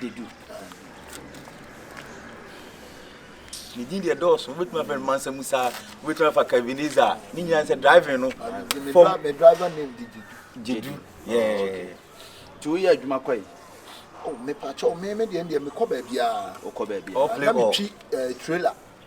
dedu. Ne din deɛ dɔɔso wobɛtumi afɛ no mansa mu saa wobɛtumi afa caviniza a ne nyinaa sɛ driving no gyedu nti woyɛ adwuma kɔ yi oh, mepakyɛw me me deɛ deɛ mekɔ baabiaa wokɔ baabiaa na metwi eh, trailer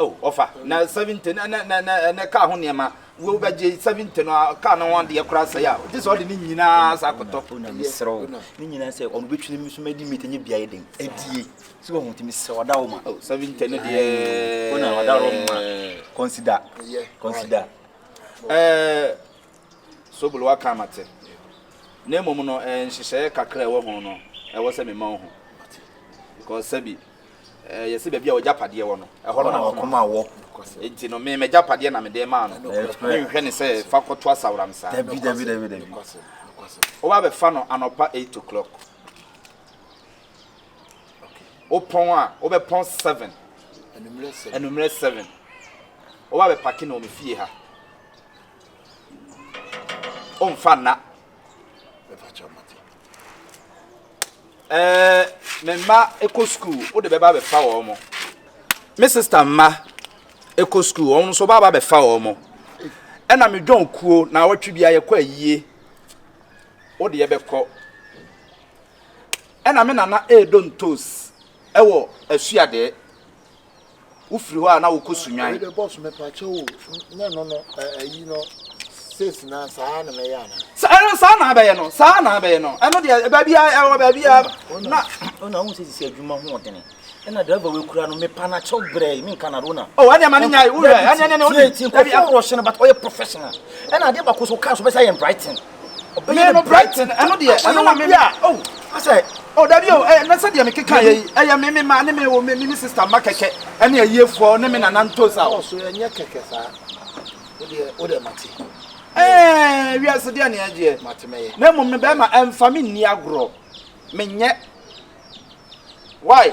Oh, ɔfa, na seventy, na, na, na, na, na kaa ho nneɛma. Wo bɛgye seventy no, kaa no ho adeɛ koraa sɛe a, gye sɛ ɔde ne nyinaa sa akɔtɔ. Oh, na mesrɛ wo, ne nyinaa sɛ ɔno bɛtwene me so madi mmɛti nyɛ biaɛ den. Adie, sɛ wahu nti mesrɛ wo, ɔda wo ma. Oh, seventy no deɛ. Oh, na ɔda wo ma. Consider, consider. Eh, Sobolo waka mate. Na mmom no, eh, nhyehyɛeɛ kakra a ɛwɔ ho no, ɛwɔ sɛ mema wo ho. Because sɛbi. Ɛyɛ sɛ baabi a w'agyapadeɛ wɔ no, ɛhɔ na wakoma wɔ. Enti no, me m'agyapadeɛ na mede maa no. Menhwɛ ne sɛ fa kɔto asaworam saa. Dabi, dabi, dabi, dabi. Woba bɛfa no anɔpa eight o'clock. Wopɔn a, wobɛpɔn seven. Anummerɛ seven. Woba bɛpake no wɔ me fie ha. Omfa nna. ɛɛ me mma kɔ sukuu wode bɛba bɛfa wɔn mo me sista mma kɔ sukuu wɔn nso bɛba bɛfa wɔn mo ɛna me dwɔn kuo na awɔtwe bi ayɛkɔ ayie wode yɛbɛkɔ ɛna me nana ɛɛdɔ ntos ɛwɔ asuadeɛ wofiri hɔ a na wokɔ Sunnwan. Wei de boss me pakyɛ o, nyɛ no no ayi no says na saa na mɛyɛ ana. Sa ɛno saa na abɛyɛ no, saa na abɛyɛ no. Ɛno deɛ baabi a ɛwɔ baabi a na. Ona wo sɛ sisi adwuma ho ɔdene. Ɛna driver wei kura no me pa na kyɛw brɛ me nka na rona. Oh, ɛne ma ne nya wo hwɛ. Ɛne ɛne ne oni. Ti ko fo ro hye no but ɔyɛ professional. Ɛna ade ba ko so car so bɛsa yɛ Brighton. Ɔbɛyɛ no Brighton ɛno deɛ ɛno na meme oh asɛ oh dabi oh ɛɛ na sɛdeɛ mekeka yɛ yi ɛyɛ me me ma ne me wo me me sister ma kɛkɛ ɛne ayiefoɔ ne me nana ntos a ɔso ɛnyɛ kɛkɛ saa wodeɛ wodeɛ mate ɛɛ wiase deɛ ne ɛgyeɛ mate mɛyɛ na mmom no bɛrima ɛmfa me nni agorɔ menyɛ why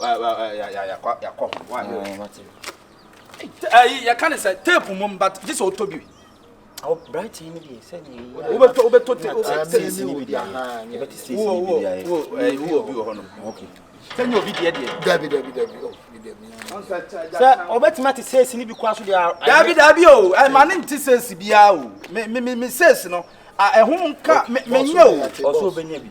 yɛakɔ ho yɛka ne sɛ tape mom but gye sɛ ɔtɔ bi branche no deɛ sɛ wobɛtɔ wobɛtɔ tape wowɔbi wɔ hɔ no sɛ nyɛ obi deɛ deɛ dabi dabi dabi sɛ ɔbɛtumi ate sɛsi no bi koa so deɛ dabi dabi o ɛma ne nte sɛsi biaa o me sɛsi no ɛho nka menyɛ o ɔsɛ ɔbɛnya bi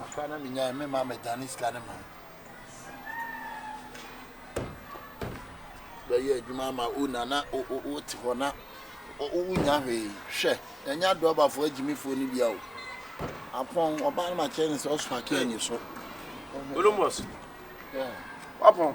Afra na me nyae me ma me dane sika ne ma bɛyɛ adwuma ama o na na o te hɔ na o nya hwee hwɛ ɛnya dɔbafo agyimifoɔ no bia o apɔn ɔbaa no ma kyerɛ ne sɛ ɔso ake anyi so Columbus wapɔn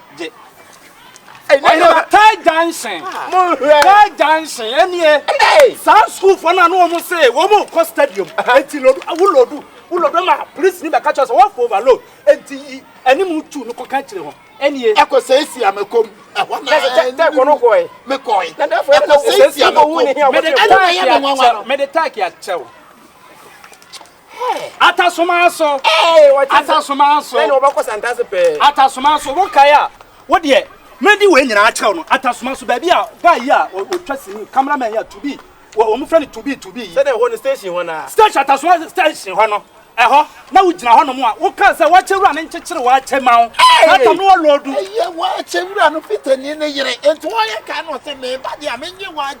gye. Ɔyɛ Ɔtaa Junction. Ɔtaa Junction ɛneɛ saa sukuufoɔ no a na wɔn se wɔn rekɔ stadium nti lodu wo lodu wo lodu ama polisi ni bɛka kyerɛ sɛ wɔfo overload nti yi anim tu no kɔka kyerɛ wɔn ɛneɛ. Ɛkɔ sɛ esi a mɛkɔ mu ɛhɔ na ɛɛ ne mu mekɔe. Ɛkɔ sɛ esi a mɛkɔ mu. Mede taaki akyɛw. Atasomanso, Atasomanso, Bɛn na wɔbɛkɔ Santase pɛɛ. Atasomanso, Wo kae a, wo deɛ mɛdi wei nyinaa akyerɛ wo no. Atasomanso, Baabi a guy yi a ɔtwa sini, camera man yi a, Tubi, wɔn frɛ no Tubi Tubi yi. Sɛdeɛ ɛhɔ no station hɔ no ara. Station, Atasomanso, Station hɔ no, ɛhɔ, na wo gyina hɔ nom a, wo kaa sɛ w'akyɛ wura no nkyekyere w'akyɛ ma wo. Saa tam no wɔ lɔɔdu. Ɛyɛ w'akyɛ wura no Peterni no yere, nti wɔyɛ kae na ɔse, Me ba deɛ a, menye w'akyɛ.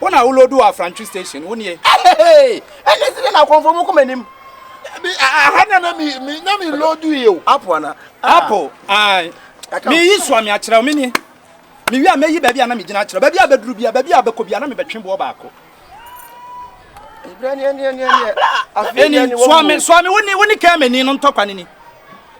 Wo na wo load wɔ Afrantwi station, wo nie. Hey, ɛnyɛ sɛ na akɔmfo mu koma nim. Dabi, aha na na mi mi na mi load yi o. Apple ana? Ah. Apple, ai. Mi yi so ami akyerɛ mi ni. Mi wi a mɛyi baabi a na mi gyina akyerɛ. Baabi a bɛduru bia, baabi a bɛkɔ bia na mi bɛtwe boɔ baako. Ebira ni ɛni ɛni ɛni. Ɛni, soa mi, soa mi, wo ni, wo ni kɛmɛ ni no ntɔkwa ni ni.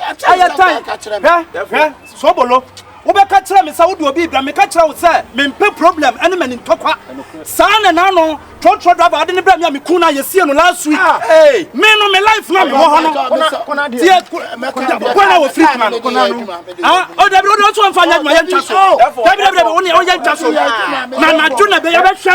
ɛyɛ tan hwɛ hwɛ sobolo wobɛka kyerɛ me sɛ wode obi bra meka kyerɛ wo sɛ mempɛ problem ɛne mani ntɔkwa saa na naano trɔtrɔ driver ade ne brɛ me a meku no a yɛsie no last week ah, me no me life na mewɔ hɔ no tiɛ kona wɔ firi kona no kona no ah, o oh, dabi wode ɔso mfa nyɛ adwuma yɛntwa so dabi dabi dabi wone ɔyɛ ntwa so na nadwo na bɛyɛ bɛhwɛ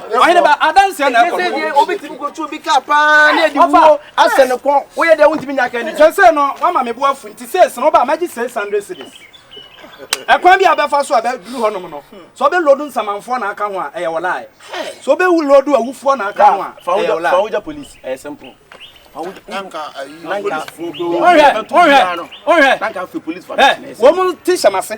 ɔhene ba adanseɛ na ɛkɔ no wobɛtumi kɔtu obi ka paa na ɛde wuo asɛ ne kɔn woyɛ dɛ wontumi nya ka ni kyɛ sɛ no wama me bo afu nti sees no woba magye 600 cities ɛkwan bi a bɛfa so a bɛduru hɔnom no sɛ wobɛlodu nsamanfoɔ na aka ho a ɛyɛ wɔlae sɛ wobɛwu lodu awufoɔ na aka ho a ɛyɛ wɔlae fawogya police ɛyɛ simple wɔn mu te hyɛm ase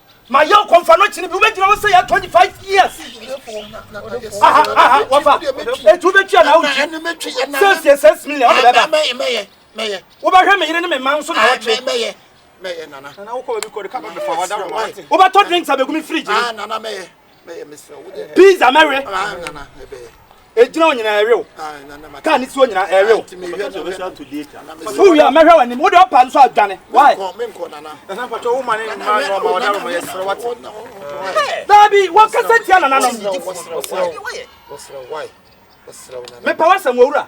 ma yɛ ɔkɔmfa no kyene bi wobɛgyina hɔ sɛ yɛ 25 years aha aha wɔfa ɛti wobɛtua na wogye sɛsie sɛs million wode bɛba wobɛhwɛ me yere ne me ma nso na wɔtwe wobɛtɔ drinks a bɛgu me fridge ne pizza mɛwe ɛgyina wo nyinaa ɛwew kaa ne tuo nyinaa ɛwew so wie a mɛhwɛ w'anim wode ɔpa nso adwane why daabi wɔkasa tia nananom mepɛ w'asɛm wɔwura